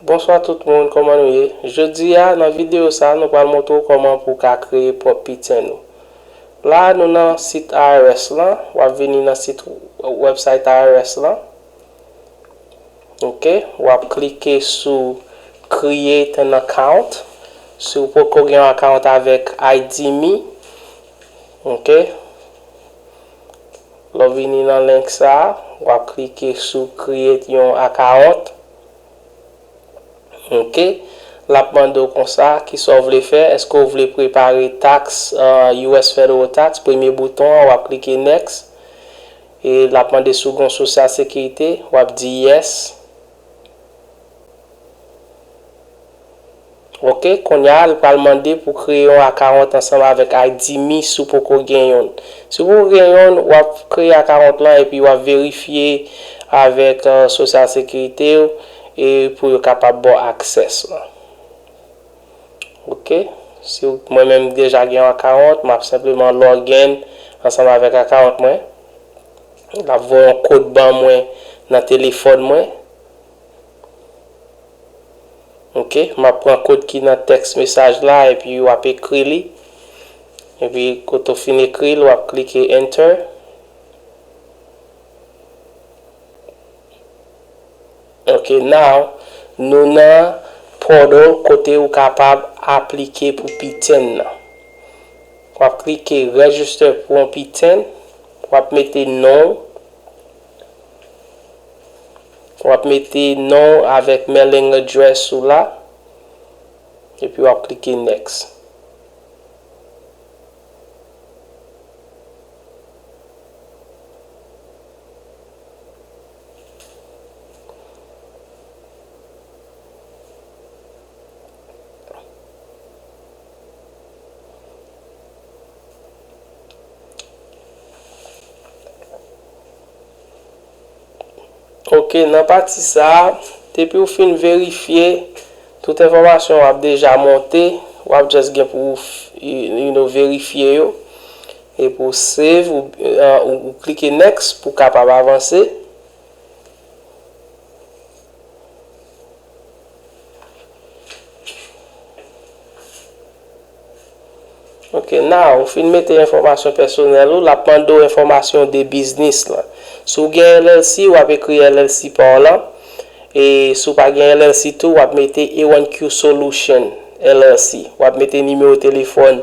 Bonswa tout moun kòman nou ye jodi a nan videyo sa nou pral montre w kòman pou w ka kreye pwòp piten ou la nou nan sit IRS lan wap vini nan sit website IRS lan ok wap klike sou create an account si w poko gen yon account avèk IDme ok Lè w vini nan link sa, w ap klike sou create yon akawont. Ok. L ap mande w konsa, kisa w vle fè? Eske w vle prepare taks US Federal Tax? Premye bouton an, w ap klike next. E l ap mande si w gen yon sosyal sekirite. W ap di yes. Ok konnya l pral mande pou kreye yon akawont ansanm avèk Aidimi si w poko gen yonn. Si w poko gen yonn wap kreye akawont lan epi wap verifye avèk sosyal sekirite w e pou yo kapab ba w access lan. Ok si ou mwen menm deja gen yon account map senpleman login ansanm avèk account mwen lap voye yon kod ban mwen nan telefòn mwen ok map pran kod ki nan text mesaj la epi wap ekri li epi kote ou fin ekri li wap klike enter. Ok now nou nan portal kote ou kapab aplike pou piten nan. Wap klike register pou yon piten, wap mete non ou, wap mete non ou avèk mailing address ou la, epi wap klike next. Ok, nan pati sa, depi ou fin verifye, tout enfòmasyon w ap deja monte, w ap just gen pou ou verifye yo. Epi ou save ou klike next pou kapab avanse. Ok now ou fin mete enfòmasyon pèsonèl ou lap mande ou enfòmasyon de biznis lan. Si ou gen LLC wap ekri LLC pa w lan. E si ou pa gen LLC tou wap mete A1Q solution LLC. Wap mete nimewo telefòn.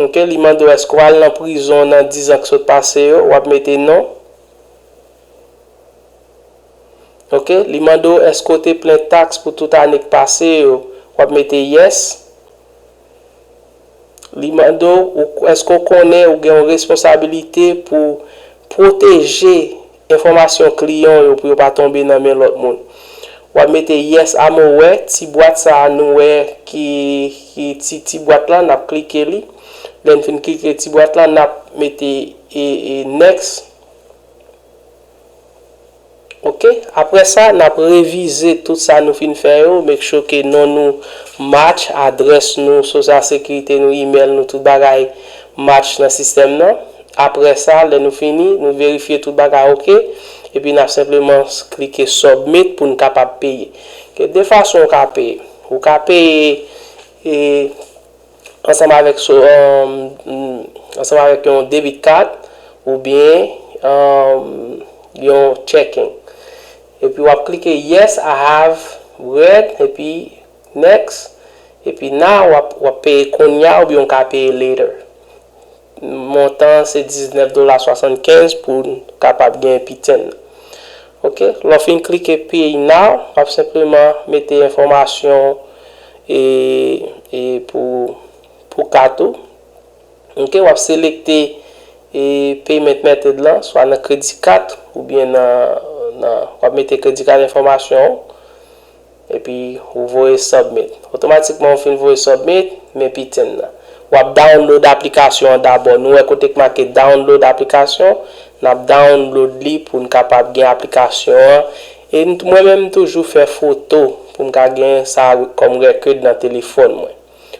Ok li mande w eske w al nan prizon nan 10 ans ki sot pase yo wap mete non ok li mande w eske w te plen tax pou tout ane ki pase yo wap mete yes li mande w eske w konnen ou gen yon responsabilite pou pwoteje Enfòmasyon kliyan w yo pou yo pa tonbe nan men lòt moun. W ap mete yes a mo wè, ti bwat sa a nou wè ki ki ti ti bwat lan, n ap klike li. Lè n fin klike ti bwat lan, n ap mete next. Ok. Aprè sa, n ap revize tout sa nou fin fè yo, make sure ke non nou match, adrès nou, social securite nou, email nou, tout bagay match nan sistèm nan. Aprè sa, lè nou fini, nou verifye tout bagay ok, epi n ap senpleman klike Submit pou n kapab peye. Gen de fason ou ka peye. Ou ka peye e ansanm avèk so ansanm avèk yon debit card oubyen yon checking. Epi w ap klike Yes I have read epi Next epi now w ap peye kounye a oubyen ou ka peye later. Montan an se 19 dola 75 pou n kapab gen piten nan. Ok, lè w fin klike pay now, w ap senpleman mete enfòmasyon w e e pou pou kat ou. Ok, w ap selekte e payment method lan, swa nan kredi kat oubyen nan nan w ap mete kredi kat enfòmasyon w. Epi ou voye submit. Otomatikman ou fin voye submit, men piten nan. Wap download aplikasyon an dabò. Nou wè kote k make download aplikasyon, nap download li poun kapab gen aplikasyon an. E mwen menm m toujou fè foto poum ka gen sa kòm record nan telefòn mwen.